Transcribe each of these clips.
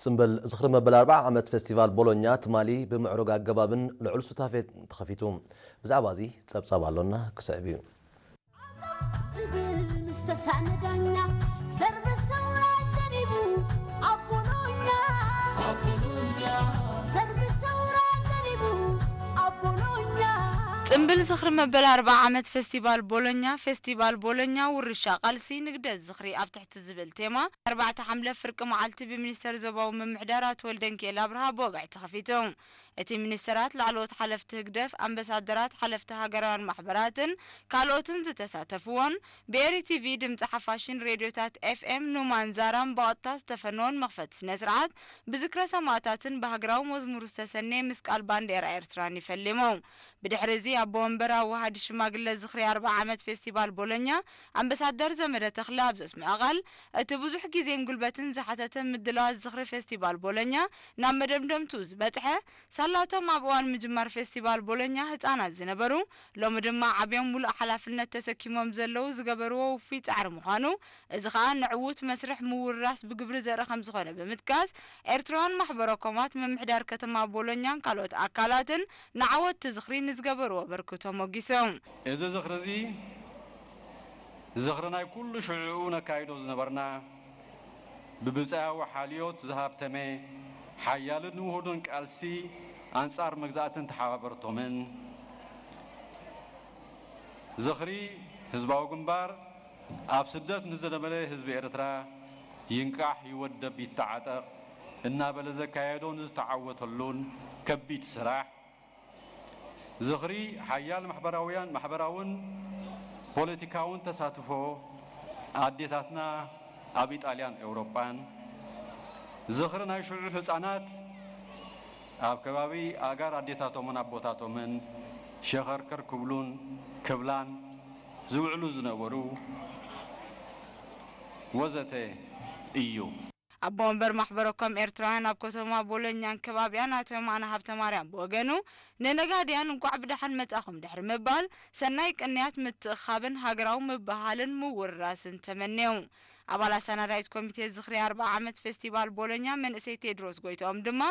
ጽምብል ዝኽሪ መበል ኣርብዓ ዓመት ፌስቲቫል ቦሎኛ ትማሊ ብምዕሩግ ኣገባብን ልዑል ሱታፌን ተኸፊቱ። ብዛዕባ እዚ ጸብጻብ ኣሎና ክስዕብ እዩ። ጽምብል ዝኽሪ መበል ኣርብዓ ዓመት ፌስቲቫል ቦሎኛ ፌስቲቫል ቦሎኛ ውርሻ ቃልሲ ንግደት፣ ዝኽሪ ኣብ ትሕቲ ዝብል ቴማ ኣርባዕተ ሓምለ ፍርቂ መዓልቲ ብሚኒስተር ዞባዊ ምምሕዳር ኣቶ ወልደንኪኤል ኣብርሃ ብወግዒ ተኸፊቱ። እቲ ሚኒስተራት፣ ላዕለዎት ሓለፍቲ ህግደፍ፣ ኣምበሳደራት፣ ሓለፍቲ ሃገራውያን ማሕበራትን ካልኦትን ዝተሳተፍዎን ብኤሪ ቲቪ፣ ድምጺ ሓፋሽን ሬድዮታት ኤፍኤም ኑማን ዛራን ብቐጥታ ዝተፈነዎን መኽፈቲ ስነ-ስርዓት ብዝክረ ሰማእታትን ብሃገራዊ መዝሙር ዝተሰነየ ምስ ቃል ባንዴራ ኤርትራን እዩ ፈሊሙ። ብድሕሪ እዚ ኣቦ ወንበር ኣዋሃዲ ሽማግለ ዝኽሪ ኣርብዓ ዓመት ፌስቲቫል ቦሎኛ ኣምበሳደር ዘመደ ተኽለ ኣብ ዘስመዖ ቃል፣ እቲ ብዙሕ ግዜን ጉልበትን ዝሓተተ ምድላዋት ዝኽሪ ፌስቲቫል ቦሎኛ ናብ መደምደምትኡ ዝበጽሐ፣ ሳላ እቶም ኣብ እዋን ምጅማር ፌስቲቫል ቦሎኛ ህጻናት ዝነበሩ፣ ሎሚ ድማ ዓብዮም ምሉእ ሓላፍነት ተሰኪሞም ዘለዉ ዝገበርዎ ውፉይ ጻዕሪ ምዃኑ፣ እዚ ከኣ ንዕዉት መስርሕ ምውርራስ ብግብሪ ዘርኢ ከምዝኾነ ብምጥቃስ፣ ኤርትራውያን ማሕበረ-ኮማት፣ ምምሕዳር ከተማ ቦሎኛን ካልኦት ኣካላትን ንዓወት'ቲ ዝኽሪ ንዝገበርዎ ኣበርክቶ ሞጊሶም። እዚ ዝኽሪ'ዚ፣ ዝኽሪ ናይ ኩሉ ሽዕኡ ነካይዶ ዝነበርና ብብጻያዊ ሓልዮት ዝሃብተመ ሓያልን ውሁድን ቃልሲ ኣንጻር መግዛእትን ተሓባበርቶምን፣ ዝኽሪ ህዝባዊ ግንባር ኣብ ስደት ንዝነበረ ህዝቢ ኤርትራ ይንቃሕ ይወደብ ይተዓጠቕ፣ እናበለ ዘካየዶን ዝተዓወተሉን ከቢድ ስራሕ ዝኽሪ ሓያል ማሕበራውያን ማሕበራውን ፖለቲካውን ተሳትፎ ኣዴታትና ኣብ ኢጣልያን ኤውሮጳን ዝኽሪ ናይ ሽዑ ህጻናት ኣብ ከባቢ ኣእጋር ኣዴታቶምን ኣቦታቶምን ሸኸርከር ክብሉን ክብላን ዝውዕሉ ዝነበሩ ወዘተ ኢዩ። ኣቦ ወንበር ማሕበረ ኮም ኤርትራውያን ኣብ ከተማ ቦሎኛን ከባቢኣን ኣቶ የማነ ሃብተማርያም ብወገኑ ንነጋድያን እንቋዕ ብደሓን መጻኹም ድሕሪ ምባል ሰናይ ቅንያት ምትእኽኻብን ሃገራዊ ምብህሃልን ምውርራስን ተመንዩ። ኣባል ኣሳናዳኢት ኮሚቴ ዝኽሪ ኣርብዓ ዓመት ፌስቲቫል ቦሎኛ መንእሰይ ቴድሮስ ጎይትኦም ድማ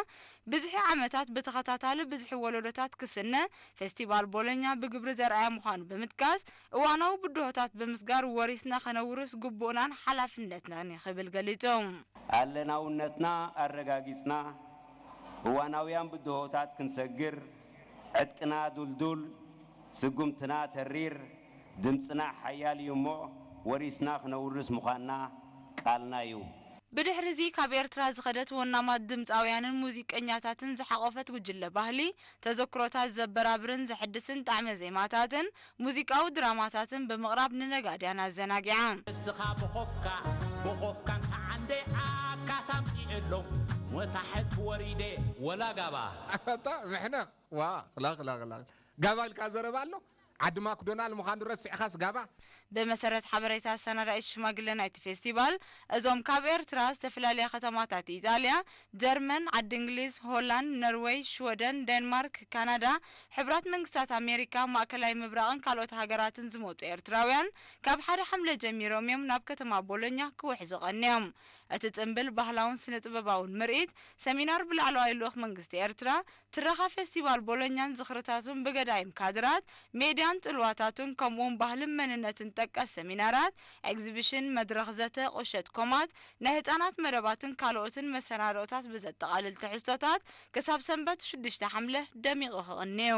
ብዝሒ ዓመታት ብተኸታታሊ ብዝሒ ወለዶታት ክስነ ፌስቲቫል ቦሎኛ ብግብሪ ዘርኣየ ምዃኑ ብምጥቃስ እዋናዊ ብድሆታት ብምስጋር ወሪስና ከነውርስ ግቡእናን ሓላፍነትናን እዩ ክብል ገሊጹ። ኣለናውነትና ኣረጋጊጽና እዋናውያን ብድሆታት ክንሰግር ዕጥቅና ዱልዱል፣ ስጉምትና ተሪር፣ ድምጽና ሓያል እዩ እሞ ወሪስና ክነውርስ ምዃንና ቃልና እዩ። ብድሕሪ'ዚ ካብ ኤርትራ ዝኸደት ወናማት ድምጻውያንን ሙዚቀኛታትን ዝሓቖፈት ጉጅለ ባህሊ፣ ተዘክሮታት ዘበራብርን ዘሕድስን ጣዕመ ዜማታትን ሙዚቃዊ ድራማታትን ብምቕራብ ንነጋድያን ኣዘናጊዓ። እስኻ ብኾፍካ ብኾፍካ እንተዓንደ ኣካት ኣምጺኤሎም ወታሕት ወሪደ ወላ ጋባ። ኣታ ምሕነኽ ዋእ ኽላኽላኽላኽ ጋባ ኢልካ ዘረባ ኣሎ ዓዲ ማክዶናል ምዃኑ ረሲዕኻስ ጋባ። ብመሰረት ሓበሬታ ኣሰናዳኢት ሽማግለ ናይቲ ፌስቲቫል እዞም ካብ ኤርትራ ዝተፈላለያ ከተማታት ኢጣልያ ጀርመን፣ ዓዲ እንግሊዝ፣ ሆላንድ፣ ነርወይ፣ ሽወደን፣ ዴንማርክ፣ ካናዳ፣ ሕቡራት መንግስታት ኣሜሪካ፣ ማእከላይ ምብራቕን ካልኦት ሃገራትን ዝመጹ ኤርትራውያን ካብ ሓደ ሓምለ ጀሚሮም እዮም ናብ ከተማ ቦሎኛ ክውሕዙ ቀንዮም። እቲ ጽንብል ባህላውን ስነ-ጥበባውን ምርኢት ሰሚናር ብላዕለዋይ ልኡኽ መንግስቲ ኤርትራ፣ ትረኻ ፌስቲቫል ቦሎኛን ዝኽርታቱን ብገዳይም ካድራት፣ ሜድያን ጽልዋታቱን ከምኡውን ባህልን መንነትን ጠቀስ ሰሚናራት፣ ኤግዚቢሽን፣ መድረኽ ዘተ፣ ቁሸት ኮማት፣ ናይ ህጻናት መደባትን ካልኦትን መሰናድኦታት ብዘጠቓልል ትሕዝቶታት ክሳብ ሰንበት ሽዱሽተ ሓምለ ደሚቑ ክቕኒ'ዩ።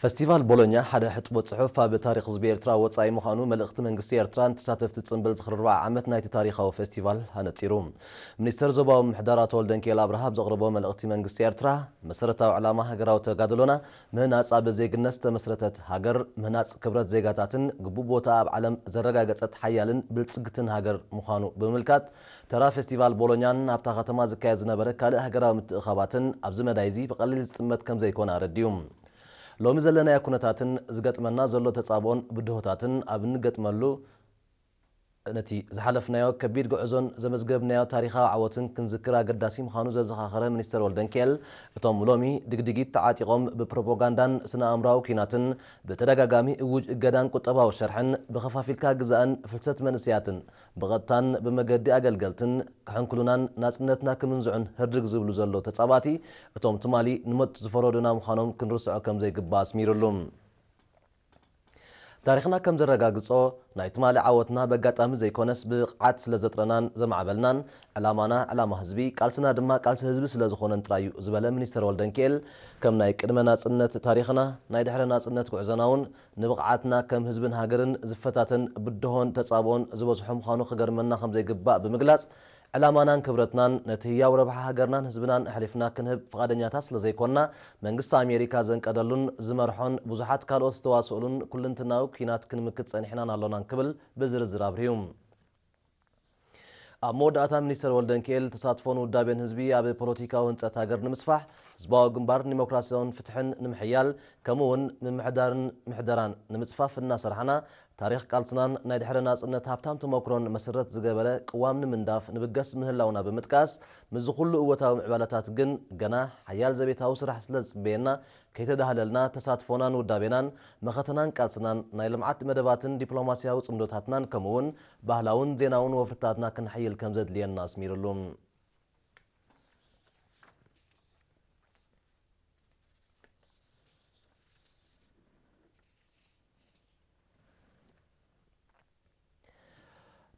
ፈስቲቫል ቦሎኛ ሓደ ሕጥቦ ጽሑፍ ኣብ ታሪኽ ህዝቢ ኤርትራ ወጻኢ ምዃኑ መልእኽቲ መንግስቲ ኤርትራ ንተሳተፍቲ ጽምብል ዝኽሪ ርብዓ ዓመት ናይቲ ታሪኻዊ ፈስቲቫል ኣነጺሩ። ሚኒስተር ዞባዊ ምምሕዳራ ተወልደንኪኤል ኣብርሃ ኣብ ዘቕረቦ መልእኽቲ መንግስቲ ኤርትራ መሰረታዊ ዕላማ ሃገራዊ ተጋድሎና ምህናጽ ኣብ ዜግነት ዝተመስረተት ሃገር ምህናጽ ክብረት ዜጋታትን ግቡእ ቦታኣ ኣብ ዓለም ዘረጋገጸት ሓያልን ብልጽግትን ሃገር ምዃኑ ብምምልካት ተራ ፌስቲቫል ቦሎኛን ኣብታ ከተማ ዝካየድ ዝነበረ ካልእ ሃገራዊ ምትእኽኻባትን ኣብዚ መዳይ'ዚ ብቐሊል ዝጥመት ከምዘይኮነ ኣረዲኡ። ሎሚ ዘለናዮ ኩነታትን ዝገጥመና ዘሎ ተጻብኦን ብድሆታትን ኣብ እንገጥመሉ፣ ነቲ ዝሓለፍናዮ ከቢድ ጉዕዞን ዘመዝገብናዮ ታሪኻዊ ዓወትን ክንዝክር ኣገዳሲ ምዃኑ ዘዘኻኸረ ሚኒስተር ወልደንኪኤል፣ እቶም ሎሚ ድግዲጊት ተዓጢቖም ብፕሮፖጋንዳን ስነ-ኣእምሮኣዊ ኲናትን ብተደጋጋሚ እዉጅ እገዳን ቁጠባዊ ሸርሕን ብኸፋፊልካ ግዛእን ፍልሰት መንእሰያትን ብቐጥታን ብመገዲ ኣገልገልትን ክሕንክሉናን ናጽነትና ክምንዝዑን ህርድግ ዝብሉ ዘለዉ ተጻባእቲ፣ እቶም ትማሊ ንሞት ዝፈረዱና ምዃኖም ክንርስዖ ከም ዘይግባእ ኣስሚርሉ። ታሪኽና ከም ዘረጋግጾ፣ ናይ ትማሊ ዓወትና በጋጣሚ ዘይኮነስ ብብቕዓት ስለ ዘጥረናን ዘማዕበልናን፣ ዕላማና ዕላማ ህዝቢ፣ ቃልስና ድማ ቃልሲ ህዝቢ ስለ ዝኾነን ጥራይ እዩ ዝበለ ሚኒስተር ወልደንኪኤል፣ ከም ናይ ቅድመ ናጽነት ታሪኽና፣ ናይ ድሕረ ናጽነት ጉዕዞና'ውን ንብቕዓትና ከም ህዝብን ሃገርን ዝፈታተን ብድሆን ተጻብኦን ዝበዝሖ ምዃኑ ክገርመና ከም ዘይግባእ ብምግላጽ፣ ዕላማናን ክብረትናን ነቲ ህያው ረብሓ ሃገርናን ህዝብናን ኣሕሊፍና ክንህብ ፍቓደኛታት ስለ ዘይኮና፣ መንግስቲ ኣሜሪካ ዘንቀደሉን ዝመርሖን ብዙሓት ካልኦት ዝተዋስኡሉን ኩልንትናዊ ኲናት ክንምክት ጸኒሕናን ኣሎናን ክብል ብዝርዝር ኣብሪሁ። ኣብ መወዳእታ ሚኒስተር ወልደንኪኤል፣ ተሳትፎን ውዳቤን ህዝቢ ኣብ ፖለቲካዊ ህንጸት ሃገር ንምስፋሕ፣ ህዝባዊ ግንባር ንዲሞክራሲን ፍትሕን ንምሕያል፣ ከምኡ'ውን ምምሕዳርን ምሕደራን ንምጽፋፍ እናሰርሓና፣ ታሪኽ ቃልስናን ናይ ድሕረ ናጽነት ሃብታም ተሞክሮን መሰረት ዝገበረ ቅዋም ንምንዳፍ ንብገስ ምህላውና ብምጥቃስ፣ ምስዚ ኩሉ እወታዊ ምዕባለታት ግን ገና ሓያል ዘቤታዊ ስራሕ ስለዝጽበየና፣ ከይተዳህለልና ተሳትፎናን ውዳቤናን፣ መኸተናን ቃልስናን፣ ናይ ልምዓት መደባትን ዲፕሎማሲያዊ ጽምዶታትናን ከምኡ'ውን ባህላውን ዜናውን ወፍርታትና ክነሐይል ከምዘድልየና ኣስሚርሉ።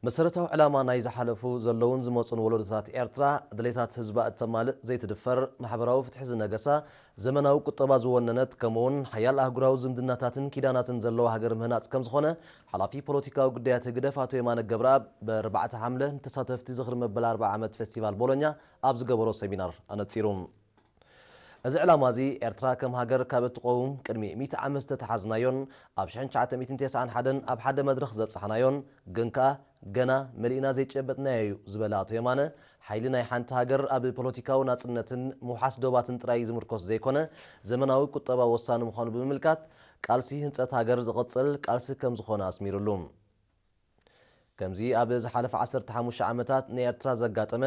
መሰረታዊ ዕላማ ናይ ዝሓለፉ፣ ዘለዉን ዝመጹን ወለዶታት ኤርትራ፣ ድሌታት ህዝባ እተማልእ፣ ዘይትድፈር፣ ማሕበራዊ ፍትሒ ዝነገሳ፣ ዘመናዊ ቁጠባ ዝወነነት፣ ከምኡ'ውን ሓያል ኣህጉራዊ ዝምድናታትን ኪዳናትን ዘለዋ ሃገር ምህናጽ ከምዝኾነ፣ ሓላፊ ፖለቲካዊ ጉዳያት ህግደፍ ኣቶ የማነ ገብረኣብ ብኣርባዕተ ሓምለ ንተሳተፍቲ ዝኽሪ መበል ኣርብዓ ዓመት ፌስቲቫል ቦሎኛ ኣብ ዝገበሮ ሰሚናር ኣነጺሩ። እዚ ዕላማ እዚ ኤርትራ ከም ሃገር ካብ እትቖውም ቅድሚ ሚእቲ ዓመት ዝተተሓዝናዮን ኣብ ሽሕን ትሽዓተ ሚእትን ቴስዓን ሓደን ኣብ ሓደ መድረኽ ዘብጻሕናዮን ግን ከኣ ገና መሊእና ዘይጨበጥናዮ እዩ ዝበለ ኣቶ የማነ፣ ሓይሊ ናይ ሓንቲ ሃገር ኣብ ፖለቲካዊ ናጽነትን ምውሓስ ዶባትን ጥራይ ዝምርኮስ ዘይኮነ ዘመናዊ ቁጠባ ወሳኒ ምዃኑ ብምምልካት፣ ቃልሲ ህንጸት ሃገር ዝቕጽል ቃልሲ ከም ዝኾነ ኣስሚርሉ። ከምዚ ኣብ ዝሓለፈ ዓሰርተ ሓሙሽተ ዓመታት ንኤርትራ ዘጋጠመ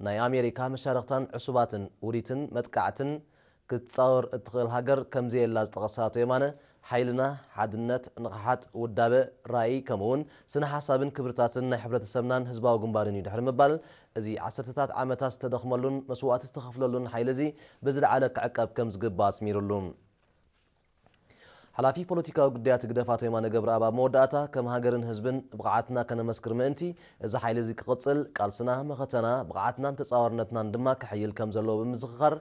ናይ ኣሜሪካ መሻርኽታን ዕሱባትን ውዲትን መጥቃዕትን ክትጻወር እትኽእል ሃገር ከምዘየላ ዝጠቐሰ ኣቶ የማነ፣ ሓይልና፣ ሓድነት፣ ንቕሓት፣ ውዳበ፣ ራኢ ከምኡ'ውን ስነ-ሓሳብን ክብርታትን ናይ ሕብረተሰብናን ህዝባዊ ግንባርን እዩ ድሕሪ ምባል እዚ ዓሰርተታት ዓመታት ዝተደኽመሉን መስዋእቲ ዝተኸፍለሉን ሓይሊ'ዚ ብዝለዓለ ክዕቀብ ከምዝግባእ ኣስሚርሉ። ሓላፊ ፖለቲካዊ ጉዳያት ህግደፍ ኣቶ የማነ ገብረኣብ ኣብ መወዳእታ፣ ከም ሃገርን ህዝብን ብቕዓትና ከነመስክር ምእንቲ፣ እዚ ሓይሊ እዚ ክቕጽል፣ ቃልስና፣ መኸተና፣ ብቕዓትናን ተጻዋርነትናን ድማ ክሕይል ከም ዘለዎ ብምዝኽኻር፣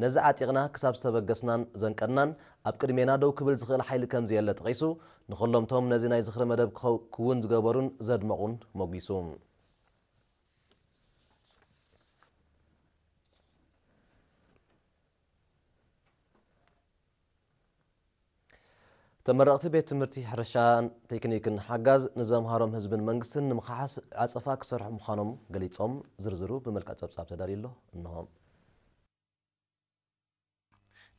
ነዚ ዓጢቕና ክሳብ ዝተበገስናን ዘንቀድናን፣ ኣብ ቅድሜና ደው ክብል ዝኽእል ሓይሊ ከም ዘየለ ጠቒሱ፣ ንኹሎም'ቶም ነዚ ናይ ዝኽሪ መደብ ክውን ዝገበሩን ዘድመቑን ሞጒሱ። ተመረቕቲ ቤት ትምህርቲ ሕርሻን ቴክኒክን ሓጋዝ ንዘምሃሮም ህዝብን መንግስትን ንምኽሓስ ዓፀፋ ክሰርሑ ምዃኖም ገሊፆም። ዝርዝሩ ብመልክዕ ፀብፃብ ተዳልዩ ኣሎ እንሆ።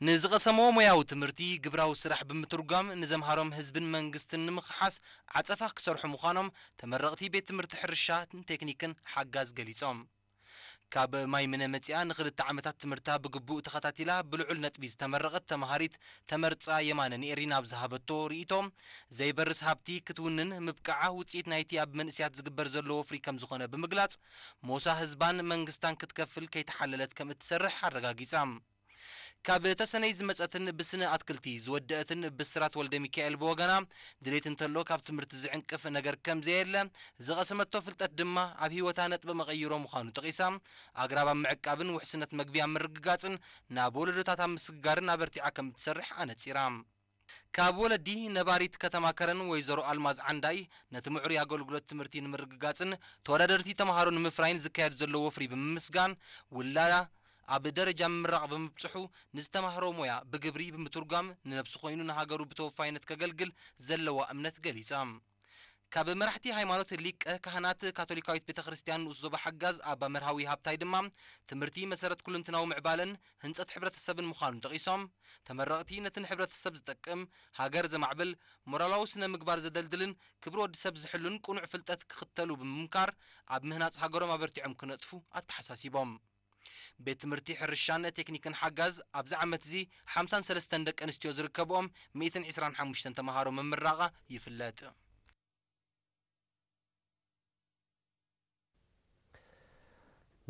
ንዝቐሰምዎ ሞያዊ ትምህርቲ ግብራዊ ስራሕ ብምትርጓም ንዘምሃሮም ህዝብን መንግስትን ንምኽሓስ ዓፀፋ ክሰርሑ ምዃኖም ተመረቕቲ ቤት ትምህርቲ ሕርሻን ቴክኒክን ሓጋዝ ገሊፆም። ካብ ማይምነ መጺኣ ንኽልተ ዓመታት ትምህርታ ብግቡእ ተኸታቲላ ብልዑል ነጥቢ ዝተመረቐት ተመሃሪት ተመርጻ የማነ ንኤሪና ኣብ ዝሃበቶ ርኢቶ፣ ዘይበርስ ሃብቲ ክትውንን ምብቃዓ ውጽኢት ናይቲ ኣብ መንእሲያት ዝግበር ዘሎ ወፍሪ ከምዝኾነ ብምግላጽ፣ ሞሳ ህዝባን መንግስታን ክትከፍል ከይተሓለለት ከምእትሰርሕ ኣረጋጊጻ። ካብ ተሰነይ ዝመጸትን ብስነ ኣትክልቲ ዝወደእትን ብስራት ወልደሚካኤል ብወገና፣ ድሌት እንተሎ ካብ ትምህርቲ ዝዕንቅፍ ነገር ከምዘየለ፣ ዝቐሰመቶ ፍልጠት ድማ ኣብ ህይወታ ነጥበ መቐይሮ ምዃኑ ጠቒሳ፣ ኣግራብ ኣብ ምዕቃብን ውሕስነት መግቢ ኣብ ምርግጋጽን ናብ ወለዶታት ኣብ ምስግጋርን ኣበርቲዓ ከምእትሰርሕ ኣነጺራ። ካብ ወለዲ ነባሪት ከተማ ከረን ወይዘሮ ኣልማዝ ዓንዳይ ነቲ ምዕሩይ ኣገልግሎት ትምህርቲ ንምርግጋፅን ተወዳደርቲ ተምሃሮ ንምፍራይን ዝካየድ ዘሎ ወፍሪ ብምምስጋን ውላዳ ኣብ ደረጃ ምምራቕ ብምብፅሑ ንዝተማህሮ ሞያ ብግብሪ ብምትርጓም ንነብሱ ኮይኑ ንሃገሩ ብተወፋይነት ከገልግል ዘለዋ እምነት ገሊፃ። ካብ መራሕቲ ሃይማኖት ሊቀ ካህናት ካቶሊካዊት ቤተ ክርስቲያን ንኡስ ዞባ ሓጋዝ ኣባ መርሃዊ ሃብታይ ድማ ትምህርቲ መሰረት ኩሉንትናዊ ምዕባለን ህንፀት ሕብረተሰብን ምዃኑ ጠቒሶም ተመረቕቲ ነቲ ንሕብረተሰብ ዝጠቅም፣ ሃገር ዘማዕብል፣ ሞራላዊ ስነ ምግባር ዘደልድልን ክብሪ ወዲ ሰብ ዝሕሉን ቅኑዕ ፍልጠት ክኽተሉ ብምምካር ኣብ ምህናፅ ሃገሮም ኣበርቲዖም ክነጥፉ ኣተሓሳሲቦም። ቤት ትምህርቲ ሕርሻን ቴክኒክን ሓጋዝ ኣብዚ ዓመት'ዚ ሓምሳን ሰለስተን ደቂ ኣንስትዮ ዝርከብኦም ሚእትን ዕስራን ሓሙሽተን ተመሃሮ ምምራቓ ይፍለጥ።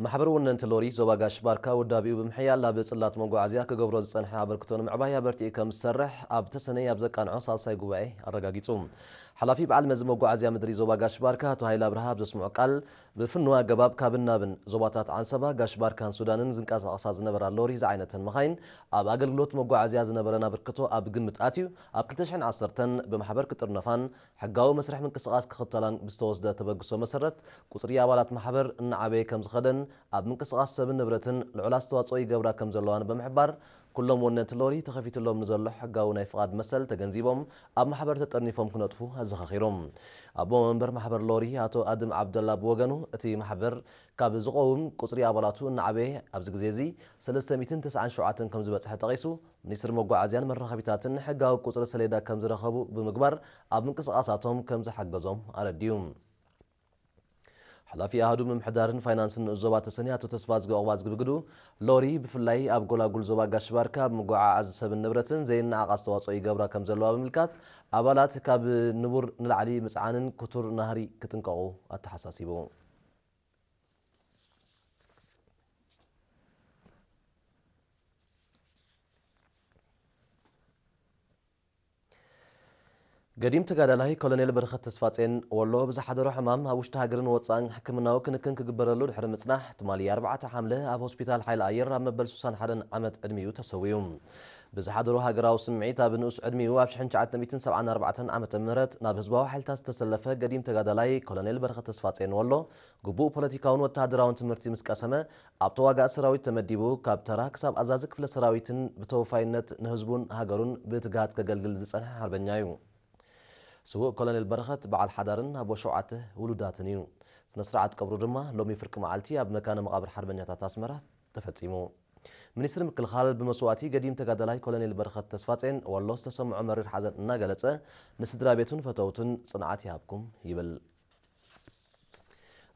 ማሕበር ወነንቲ ሎሪ ዞባ ጋሽ ባርካ ውዳቤኡ ብምሕያል ኣብ ጽላት መጓዓዝያ ክገብሮ ዝጸንሐ ኣበርክቶ ንምዕባይ ኣበርቲዑ ከም ዝሰርሕ ኣብ ተሰነይ ኣብ ዘቃንዖ ሳልሳይ ጉባኤ ኣረጋጊጹ። ሓላፊ በዓል መዚ መጓዓዝያ ምድሪ ዞባ ጋሽ ባርካ ኣቶ ሃይለ ኣብርሃ ኣብ ዘስምዖ ቃል፣ ብፍኑው ኣገባብ ካብን ናብን ዞባታት ዓንሰባ፣ ጋሽ ባርካን ሱዳንን ዝንቀሳቐሳ ዝነበራ ሎሪ ዝዓይነተን መኻይን ኣብ ኣገልግሎት መጓዓዝያ ዝነበረን ኣበርክቶ ኣብ ግምት ኣትዩ ኣብ ክልተ ሽሕን ዓሰርተን ብማሕበር ክጥርነፋን ሕጋዊ መስርሕ ምንቅስቓስ ክኽተላን ብዝተወስደ ተበግሶ መሰረት ቁፅሪ ኣባላት ማሕበር እናዓበየ ከምዝኸደን ኣብ ምንቅስቓስ ሰብን ንብረትን ልዑል ኣስተዋፅኦ ይገብራ ከምዘለዋን ብምሕባር ኩሎም ወነንቲ ሎሪ ተኸፊትሎም ንዘሎ ሕጋዊ ናይ ፍቓድ መሰል ተገንዚቦም ኣብ ማሕበር ተጠርኒፎም ክነጥፉ ኣዘኻኺሩ። ኣቦ መንበር ማሕበር ሎሪ ኣቶ ኣድም ዓብደላ ብወገኑ እቲ ማሕበር ካብ ዝቖውም ቁጽሪ ኣባላቱ እናዓበየ ኣብዚ ግዜ እዚ ሰለስተ ሚእትን ተስዓን ሸውዓተን ከምዝበጽሐ ጠቒሱ ሚኒስትሪ መጓዓዝያን መራኸቢታትን ሕጋዊ ቁጽሪ ሰሌዳ ከምዝረኸቡ ብምግባር ኣብ ምንቅስቓሳቶም ከምዝሓገዞም ኣረዲኡ። ሓላፊ ኣሃዱ ምምሕዳርን ፋይናንስን ንኡስ ዞባ ተሰነይ ኣቶ ተስፋዝጊ ዑቕባዝጊ ብግዱ፣ ሎሪ ብፍላይ ኣብ ጎላጉል ዞባ ጋሽ-ባርካ ኣብ ምጉዕዓዝ ሰብን ንብረትን ዘይነዓቕ ኣስተዋፅኦ ይገብራ ከምዘለዋ ብምምልካት፣ ኣባላት ካብ ንቡር ንላዕሊ ምፅዓንን ክቱር ናህሪ ክጥንቀቑ ኣተሓሳሲቡ። ገዲም ተጋዳላይ ኮሎኔል በረኸት ተስፋጼን፣ ወሎ ብዝሓደሮ ሕማም ኣብ ውሽጢ ሃገርን ወጻእን ሕክምናዊ ክንክን ክግበረሉ ድሕሪ ምጽናሕ፣ ትማሊ ኣርባዕተ ሓምለ ኣብ ሆስፒታል ሓይሊ ኣየር ኣብ መበል ስሳን ሓደን ዓመት ዕድሚኡ ተሰዊኡ። ብዝሓደሮ ሃገራዊ ስምዒት ኣብ ንኡስ ዕድሚኡ ኣብ ሽሕን ትሽዓተ ሚእትን ሰብዓን ኣርባዕተን ዓመተ ምህረት ናብ ህዝባዊ ሓይልታት ዝተሰለፈ ገዲም ተጋዳላይ ኮሎኔል በረኸት ተስፋጼን ወሎ ግቡእ ፖለቲካውን ወተሃደራውን ትምህርቲ ምስ ቀሰመ ኣብ ተዋጋእቲ ሰራዊት ተመዲቡ ካብ ተራ ክሳብ ኣዛዚ ክፍለ ሰራዊትን ብተወፋይነት ንህዝቡን ሃገሩን ብትግሃት ከገልግል ዝጸንሐ ሓርበኛ'ዩ። ስዉእ ኮሎኔል በረኸት በዓል ሓዳርን ኣቦ ሸውዓተ ውሉዳትን እዩ። ስነ-ስርዓት ቀብሩ ድማ ሎሚ ፍርቂ መዓልቲ ኣብ መካነ መቓብር ሓርበኛታት ኣስመራ ተፈጺሙ። ሚኒስትሪ ምክልኻል ብመስዋእቲ ገዲም ተጋዳላይ ኮሎኔል በረኸት ተስፋጼን ወሎ ዝተሰምዖ መሪር ሓዘን እናገለጸ ንስድራቤቱን ፈተውቱን ጽንዓት ይሃብኩም ይብል።